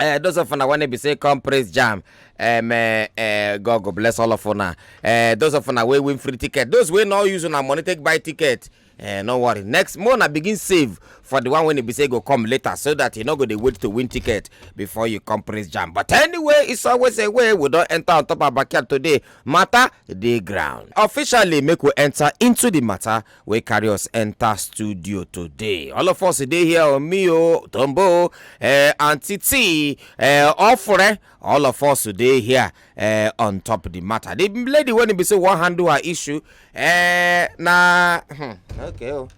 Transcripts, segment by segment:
Uh, those of una when be say come praise jam um, uh, uh, god go bless all of una uh, those of una wey win free ticket those wey no use una money take buy ticket uh, no worry next month na begin save for the one wey e be say go come later so that you no go dey wait to win ticket before you come praise jam but anyway it's always a way we don enter on top our backyard today matter dey ground officially make we enter into the matter wey carry us enter studio today. All of us dey here on me, oh, Tombo, uh, Auntie T, uh, Ofure, all of us dey here uh, on top of the matter. The lady when be say one handle her issue, uh, na hmm, okay, oh.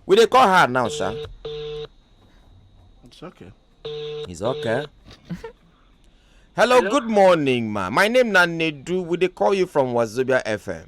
we dey call her now, sha. It's okay. It's okay. Hello, Hello, good morning, ma. My name na Nedu. We dey call you from Wazobia FM.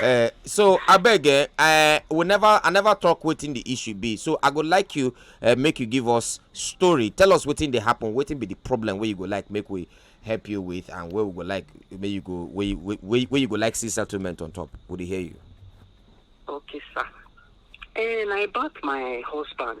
Uh, so I beg, uh, I will never, I never talk waiting the issue be. So I would like you uh, make you give us story. Tell us waiting they happen, waiting be the problem where you go like make we help you with and where we go like where you go where you, where, where you go like see settlement on top. Would he hear you? Okay, sir. And I bought my husband.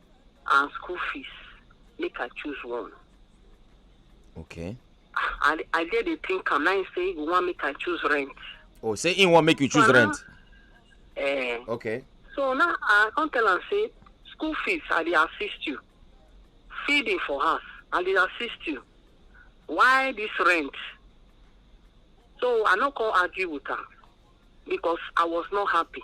and school fees make i choose one okay i i dey dey think am na him say he go wan make i choose rent oh say he wan make you choose rent eh okay so now i come tell am say school fees i dey assist you feeding for house i dey assist you why this rent so i no come argue with am because i was not happy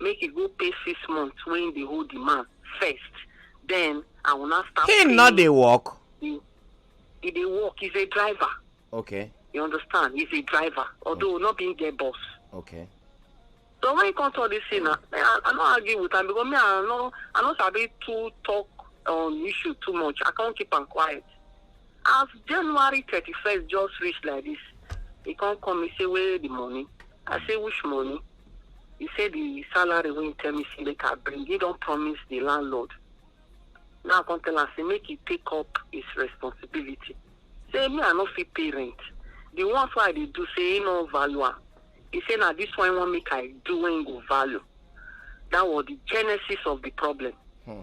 make he go pay six months wey he dey owe the man first then i will now start him no paying dey work he he dey work he's a driver okay you understand he's a driver although not being get boss okay so when he come talk this thing na me i i no argue with am because me i no i no sabi too talk on issue too much i come keep am quiet As January thirty first just reach like this, he come call me say where the money? I say which money? He say the salary wey he tell me say make I bring. He don promise the landlord. Now I come tell am say make he take up his responsibility. Say me I no fit pay rent. The ones wey I dey do say he no value am. He say na this one he wan make I do wey he go value. That was the genesis of the problem. Hmm.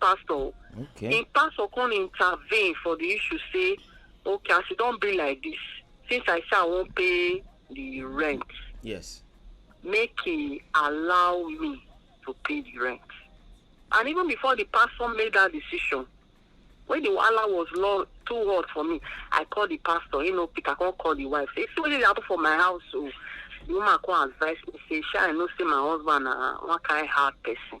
pastor o Okay. him pastor come intervene for the issue say okay as e don be like this since i say i wan pay the rent Yes. make he allow me to pay the rent and even before the pastor made that decision when the wahala was long too hot for me i call the pastor you know pick i come call the wife say see wetin dey happen for my house o the woman come advise me say shey i know say my husband na one kind hard person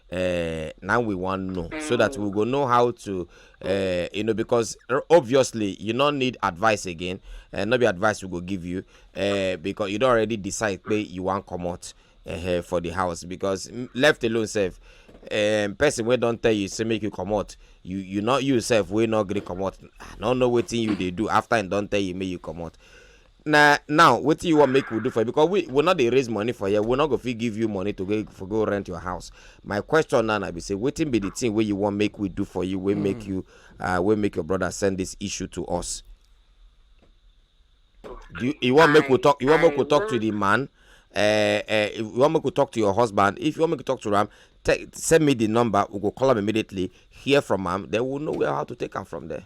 uh, now we want know mm. so that we go know how to uh, you know because obviously you don't need advice again uh, not be advice we go give you uh, because you don't already decide pay you want come out uh, for the house because left alone self um, person wey don tell you say make you comot you you not you sef wey no gree comot i no know wetin you dey do after im don tell you make you comot na now wetin you wan make we do for you because we we no dey raise money for here we no go fit give you money to go for go rent your house my question now na be say wetin be the thing wey you wan make we do for you wey make you uh, wey make your brother send this issue to us do you, you wan make we talk you wan make we talk to the man uh, uh, if you wan make we talk to your husband if you wan make we talk to am te- send me the number we go call am immediately hear from am then we know where how to take am from there.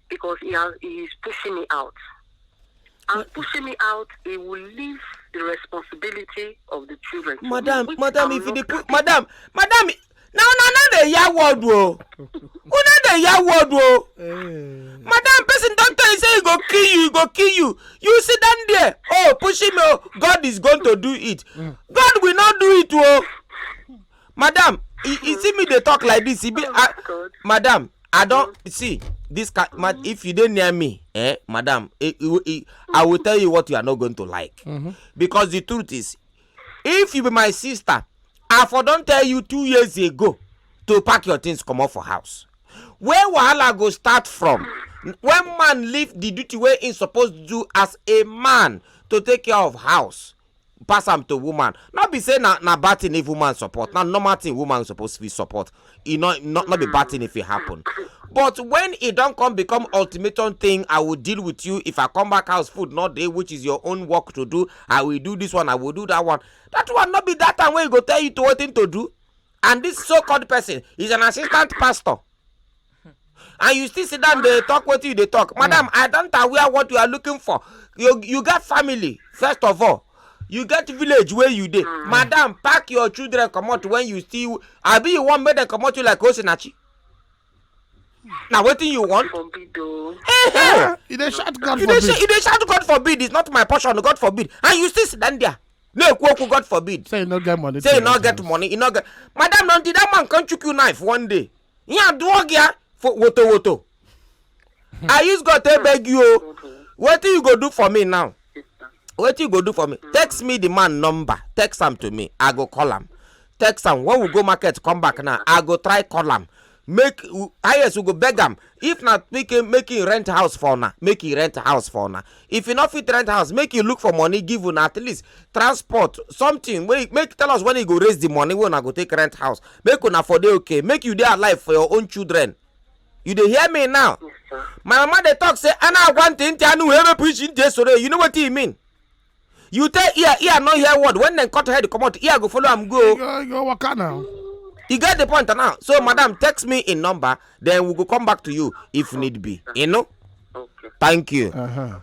because he has he is pushing me out. And But- pushing me out, he will leave the responsibility of the children. to me, madam which madam I'm if you not dey put happy. madam madam na una no dey hear word o una dey hear word o madam person don tell you say he go kill you he go kill you you sit down there oh pushing me oh god is going to do it god will not do it o madam you, you see me dey talk like this e be I, madam i don see this kind mm -hmm. if you dey near me eh madam eh, eh, eh, i will tell you what you are not going to like mm -hmm. because the truth is if you be my sister i for don tell you two years ago to pack your things comot for house where wahala go start from when man leave the duty wey he suppose do as a man to take care of house pass am to woman no be say na na bad thing if woman support na normal thing woman suppose fit support e no no no be bad thing if e happen but when e don come become ultimatum thing i will deal with you if i come back house food no dey which is your own work to do i will do this one i will do that one that one no be that time wey e go tell you to wetin to do and this so called person is an assistant pastor and you still sit down dey talk wetin you dey talk mm. madam i don't aware what you are looking for you you get family first of all you get village where you dey mm. madam pack your children come out when you still I be you wan make dem comot you like osinachi na wetin you want. you dey shout god forbid. you dey shout god forbid it's not my portion god forbid and you still sit down there na-ekwu okwu god forbid say you no get money say you no get money you no get madam na that man come chook you knife one day ihe adụọ gị ya for woto woto i use god take beg you o wetin you go do for me now wetin you go do for me text me the man number text am to me i go call am text am when we go market come back now i go try call am make highest we go beg am if na make him make him rent house for una make him rent house for una if he no fit rent house make him look for money give una at least transport something wey make tell us when he go raise the money wey una go take rent house make una for dey okay make you dey alive for your own children you dey hear me now my mama dey talk say ana agwa ntị ntị anụ wee mepụ isi ntị esoro you know wetin e mean you tell ear ear no hear word when dem cut head comot ear go follow am go. go go waka now. you get the point now so madam text me in number then we go come back to you if need be you know. Okay. thank you. Uh -huh.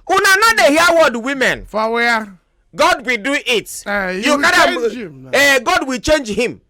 una no dey hear word women. for where. God will do it. Uh, you, you can have, uh, eh, God will change him.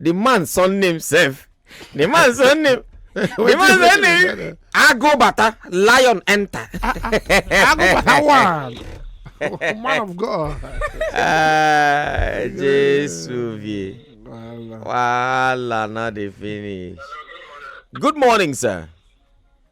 the man surname sef the man surname the man surname ago bata lion enter. Ah, ah. ago bata one oh, man of god. ah jesu vie wahala no dey finish. good morning sir.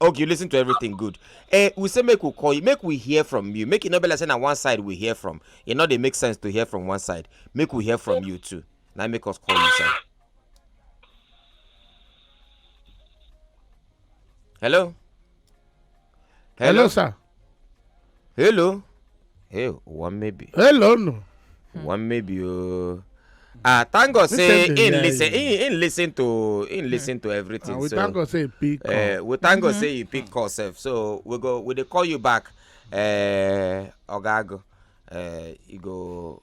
okay you listen to everything good eh we say make we call you make we hear from you make e no be like say na one side we hear from e no dey make sense to hear from one side make we hear from you too na im make us call you sir hello hello sir hello hey one maybe hello no hmm. one maybe oh ah thank god say in listen in in listen to in hmm. listen to everything ah, so we thank god say he pick uh, we thank god mm-hmm. say he pick call sef so we go we dey call you back uh, eh, ogago uh, eh, you go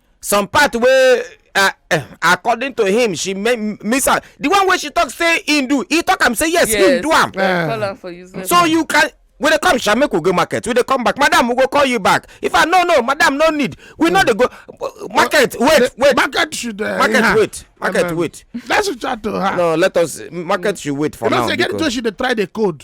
some part wey uh, uh, according to him she miss out the one wey she talk say him do he talk am say yes, yes. him do am uh. so you can we dey come sha make we go market we dey come back madam we go call you back if i no no madam no need we no dey go market wait wait market should uh, market wait market wait let's chat to her no let us market should wait for now you know say get to she dey try the code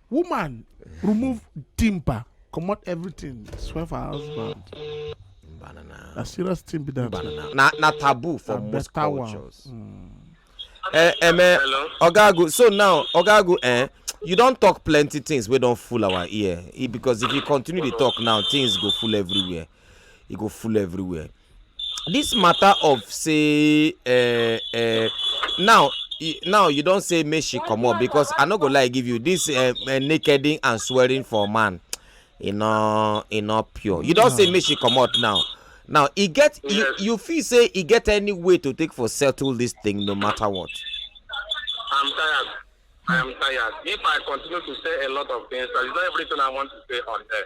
woman remove timber comot everything swear for her husband Banana. na serious thing be that Banana. Na na taboo for Na most better one. cultures. Mm. Eh, eh, me, Hello. Ogago. So now, Ogago, eh, you don't talk plenty things. We don't fool our ear Eh, because if you continue to talk now, things go full everywhere. It go full everywhere. this matter of say uh, uh, now now you don say make she comot because i no go lie give you this uh, uh, nakeding and swearing for man e no e no pure you don say make she comot now now e get yes. you, you feel say e get any way to take for settle this thing no matter what. i'm tired i am tired if i continue to say a lot of things that is not everything i want to say on air.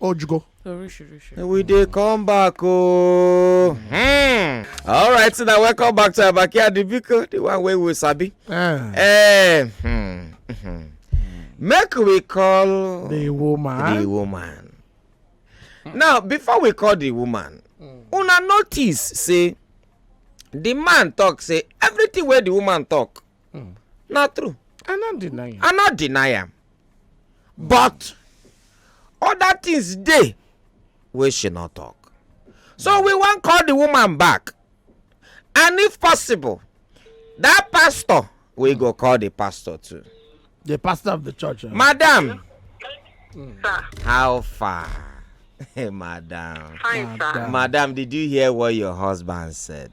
ojgo oríṣiríṣi. we dey come back ooo. Hmm. all right so na welcome back to abaki adibiko the one wey we sabi. Uh, uh, hmm, hmm. make we call. the woman. the woman. now before we call the woman mm. una notice say the man talk say everything wey the woman talk Hmm. na true i no deny am i no deny am but other things dey wey she no talk so we wan call the woman back and if possible that pastor we go call the pastor too the pastor of the church eh? madam hmm. how far madam. Fine, madam. Madam, did you hear what your husband said?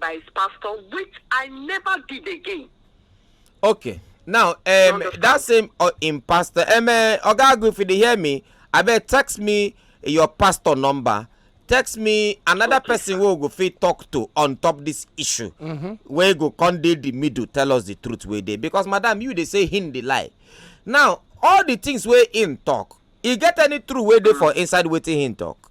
by his pastor, which I never did again. Okay. Now, um, that same uh, in pastor, um, uh, Ogagu, if you hear me, I bet text me your pastor number. Text me another okay, person who go fit talk to on top this issue. Mm -hmm. Where go come dey the middle, tell us the truth where they because madam you they say him the lie. Now all the things where in talk, e get any true where they for inside waiting him talk.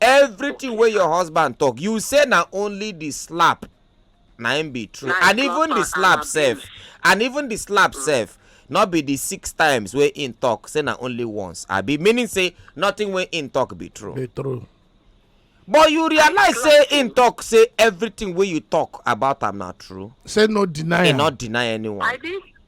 everything wey your husband talk you say na only the slap na im be true and even the slap sef and even the slap mm. sef no be the six times wey im talk say na only once abi meaning say nothing wey im talk be true be true but you realize say im talk say everything wey you talk about am na true say no deny am e no deny anyone i didn't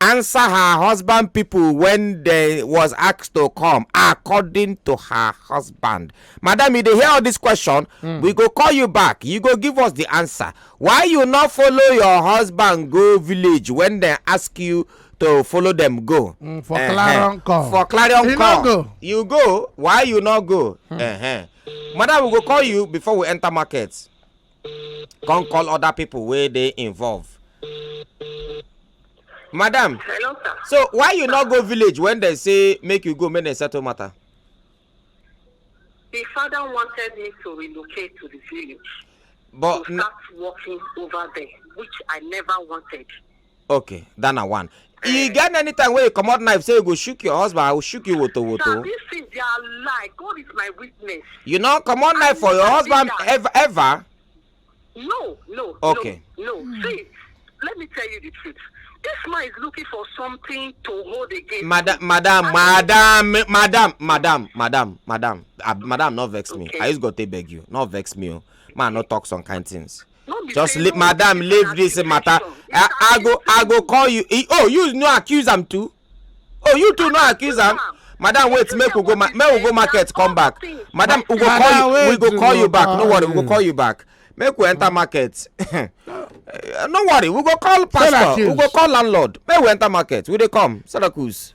answer her husband people when they was asked to come according to her husband madam you dey hear all this question mm. we go call you back you go give us the answer why you not follow your husband go village when they ask you to follow them go. Mm, for uh -huh. clarion call for clarion you call go. you go why you not go. Hmm. Uh -huh. madam we go call you before we enter market. come call other people wey dey involve madam hello sir so why you no go village when dem say make you go make dem settle matter the father wanted me to relocate to the village but to start working over there which i never wanted okay that na one e get any time wey you comot knife say you go shook your husband i go shook you woto woto Sir, this thing they are lie. God is my witness. you no comot knife for your husband ever ever No, no, Okay. no, no. See, let me tell you the truth. This man is looking for something to hold against. madam me. madam I- madam eh, madam madam madam madam ah, madam no vex me Okay. i just go take beg you no vex me o man no talk some kind things just leave madam leave this matter i i go i go call you he, oh you no accuse am too oh you too no accuse am madam wait make we go make we go market come back madam we go call you we go call you back no worry we go call you back make we enter market no worry we go call pastor we go call landlord make we enter market we dey come sarakus.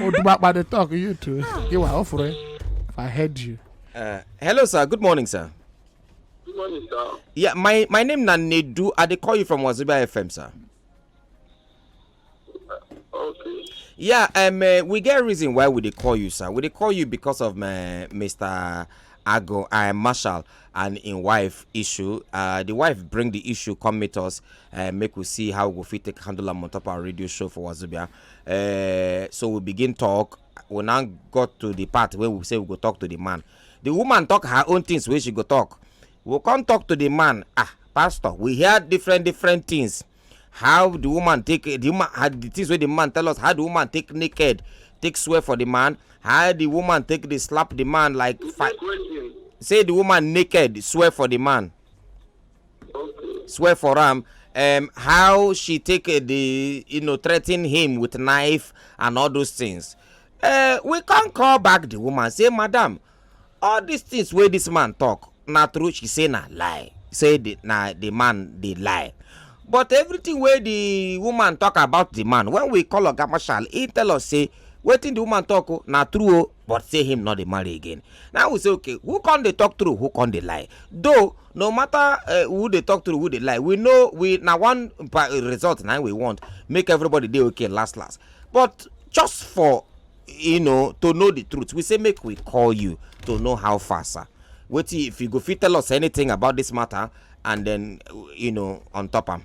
Odubakpa dey talk you too. You were offering. If I heard you. Uh, hello, sir. Good morning, sir. Good morning, sir. Yeah, my my name na Nedu. I dey call you from Wazobia FM, sir. Uh, okay. Yeah, um, uh, we get reason why we dey call you, sir. We dey call you because of my uh, Mr. Ago, I am Marshall, and in wife issue. Uh, the wife bring the issue, come meet us, uh, make we see how we fit take handle them on top our radio show for Wazubia. uh, so we begin talk we now got to the part where we say we go talk to the man the woman talk her own things wey she go talk we come talk to the man ah pastor we hear different different things how the woman take the woman how the things wey the man tell us how the woman take naked take swear for the man how the woman take dey slap the man like fight say the woman naked swear for the man. swear for am um, how she take uh, the you know threaten him with knife and all those things uh, we come call back the woman say madam all these things wey this man talk na true she say na lie say the, na the man dey lie but everything wey the woman talk about the man when we call oga marshal he tell us say wetin the woman talk o oh, na true o oh. but say him not dey marry again now we say okay who can they talk through who can they lie though no matter uh, who they talk through who they lie we know we now one result now we want make everybody dey okay last last but just for you know to know the truth we say make we call you to know how far sir What if you go fit tell us anything about this matter and then you know on top am.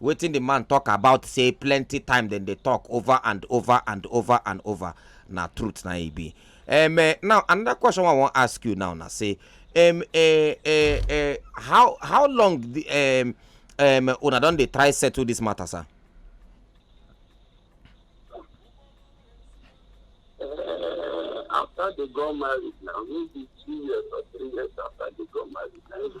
Wetin di man tok about say plenty time dem dey tok over and over and over and over na truth na e be. Um, eh, now another question wey I wan ask you now na say um, eh, eh, eh, how how long the, um, um, una don dey try settle this matter sir? Uh, after they got married now, maybe two years or three years after they got married now.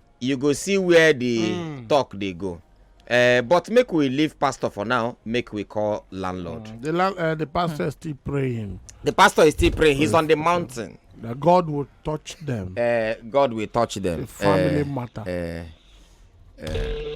you go see where the mm. talk dey go uh, but make we leave pastor for now make we call landlord mm. the, uh, the pastor mm. is still praying the pastor is still praying he's on the mountain that god will touch them uh, god will touch them the family uh, matter uh, uh,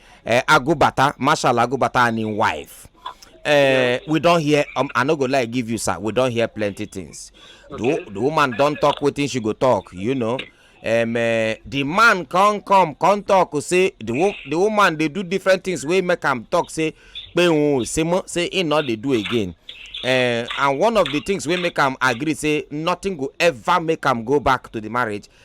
uh, Agubata, Marshal Agubata and his wife. Uh, we don't hear, um, I no go like give you, sir. We don't hear plenty things. Okay. The, the woman don't talk with she go talk, you know. Um, uh, the man come come come talk say the, the woman they do different things We make am talk say pé òun say mọ́ say he not they do again uh, and one of the things we make am agree say nothing go ever make am go back to the marriage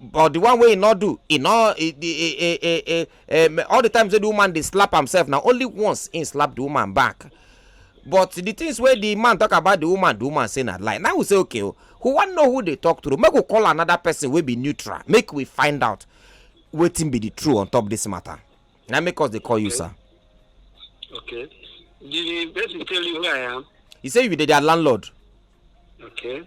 but the one wey e no do e no e, e, e, e, um, all the times wey the woman dey slap himself na only once he slap the woman back but the things wey the man talk about the woman the woman say na lie now we say okay o oh, who wan know who dey talk true make we call another person wey be neutral make we find out wetin be the true on top this matter na make us dey call okay. you sir. okay the person tell you who i am. he say you be their landlord. okay.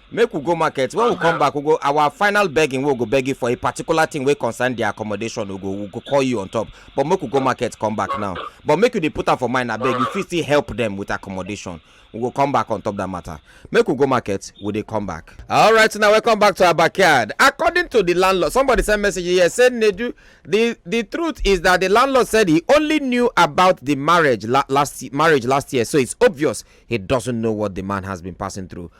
make we go market when we come back we go our final begging we go beg you for a particular thing wey concern the accommodation we go we go call you on top but make we go market come back now but make you dey put am for mind abeg you fit still help them with accommodation we go come back on top that matter make we go market we dey come back. all right now welcome back to our backyard according to the landlord somebody send message here say nedu the the truth is that the landlord said he only knew about the marriage la last marriage last year so it's obvious he doesn't know what the man has been passing through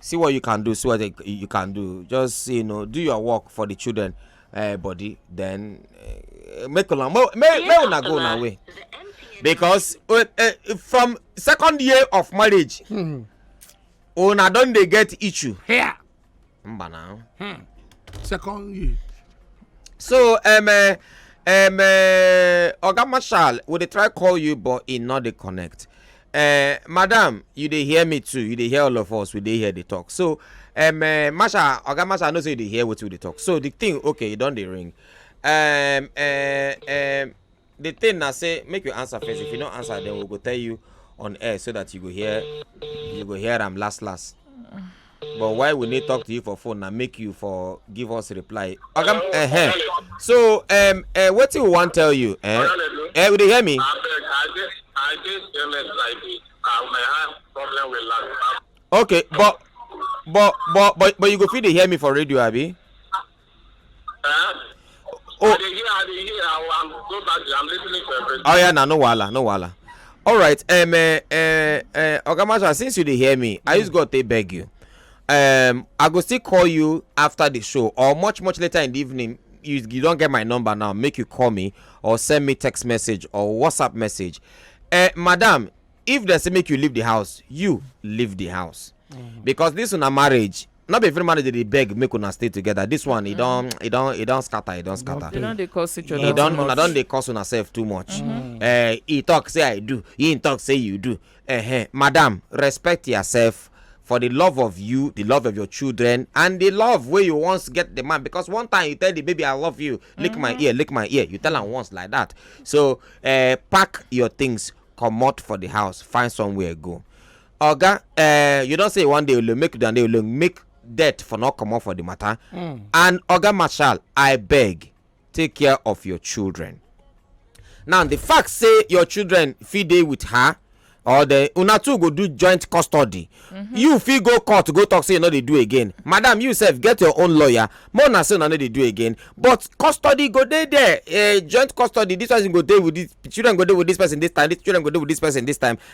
see what you can do see what you can do just you know do your work for the children uh, body then uh, make una make make una go una way because uh, uh, from second year of marriage hmm. una don dey get issue here mba na hmm. second year so um, uh, um, uh, oga marshal we dey try call you but e no dey connect eh, madam you dey hear me too you dey hear all of us we dey here dey talk so um, uh, masha oga masha i know say you dey hear wetin we dey talk so the thing okay e don dey ring um, uh, um, the thing na say make you answer first if you no answer then we go tell you on air so that you go hear you go hear am last last. but why we need talk to you for phone na make you for give us reply oga uh, uh -huh. so um, uh, wetin we wan tell you eh uh, eh, you dey hear me. abeg i dey i dey stainless like this and my hand problem with land. okay but but but but but you go fit dey hear me for radio abi. Eh? Oh. I dey hear, I dey hear. I, I'm go back. I'm listening to everything. Oh yeah, now no wala, no wala. All right, um, uh, uh, uh, Ogamasha, since you dey hear me, mm. I just got to beg you. Um, I go still call you after the show or much much later in the evening. You, you don't get my number now. Make you call me or send me text message or WhatsApp message. Uh, madam, if they say make you leave the house, you leave the house. Mm. because this una marriage not be every marriage dey dey beg make una stay together this one e don e don e don scatter e don scatter You know they cause each other. e don too una much. don dey curse una sef too much eh e talk say i do he talk say you do eh madam respect yourself for the love of you the love of your children and the love wey you once get the man because one time you tell the baby i love you lick my ear lick my ear you tell am once like that so eh pack your things comot for the house find somewhere go oga eh, you don say you wan dey alone make you dey alone make death for no comot for the matter hmm. and oga marshal i beg take care of your children now the fact say your children fit dey with her or the una two go do joint custody mm-hmm. you fit go court go talk say you no dey do again madam you sef get your own lawyer more na say una no dey do again but custody go dey there eh, joint custody this person go dey with this children go dey with this person this time this children go dey with this person this time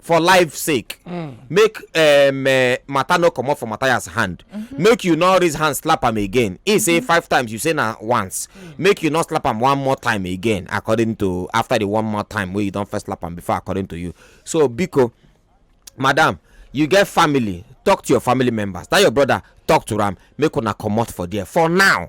for life sake mm. make um, uh, matter no comot for matthias hand mm-hmm. make you no raise hand slap am again he say mm-hmm. five times you say na once mm. make you no slap am one more time again according to after the one more time wey you don first slap am before according to you so biko madam you get family talk to your family members that your brother talk to am make una comot for there for now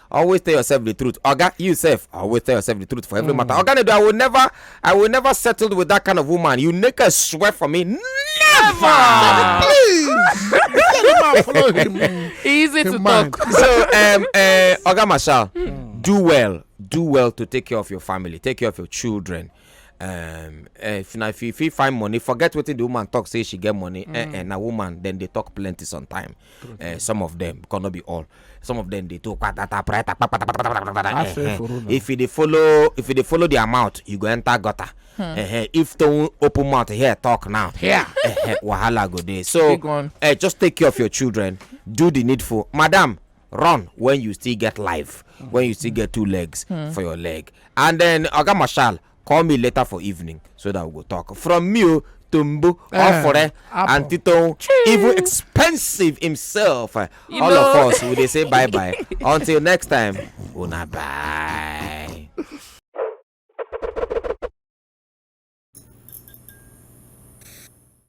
always tell yourself the truth oga you sef always tell yourself the truth for every mm. matter oga nedo i will never i will never settle with that kind of woman you make a swear for me never please follow him easy him to mind. talk so um, uh, oga marshal mm. do well do well to take care of your family take care of your children um, eh, if na if you fit find money forget wetin the woman talk say she get money mm. eh, eh, na woman then dey talk plenty sometime eh, some of them because no be all some of them dey talk patata prata patata eh, eh. if you dey follow if you dey follow their mouth you go enter gutter hmm. eh, eh, if to open mouth here talk now yeah. eh, eh, wahala go dey so eh, just take care of your children do the needful madam run when you still get life when you still get two legs hmm. for your leg and then oga marshal call me later for evening so that we go talk from me o oh, tombo ofore eh, and titon even expensive himself eh, all of us we dey say bye bye until next time una bye.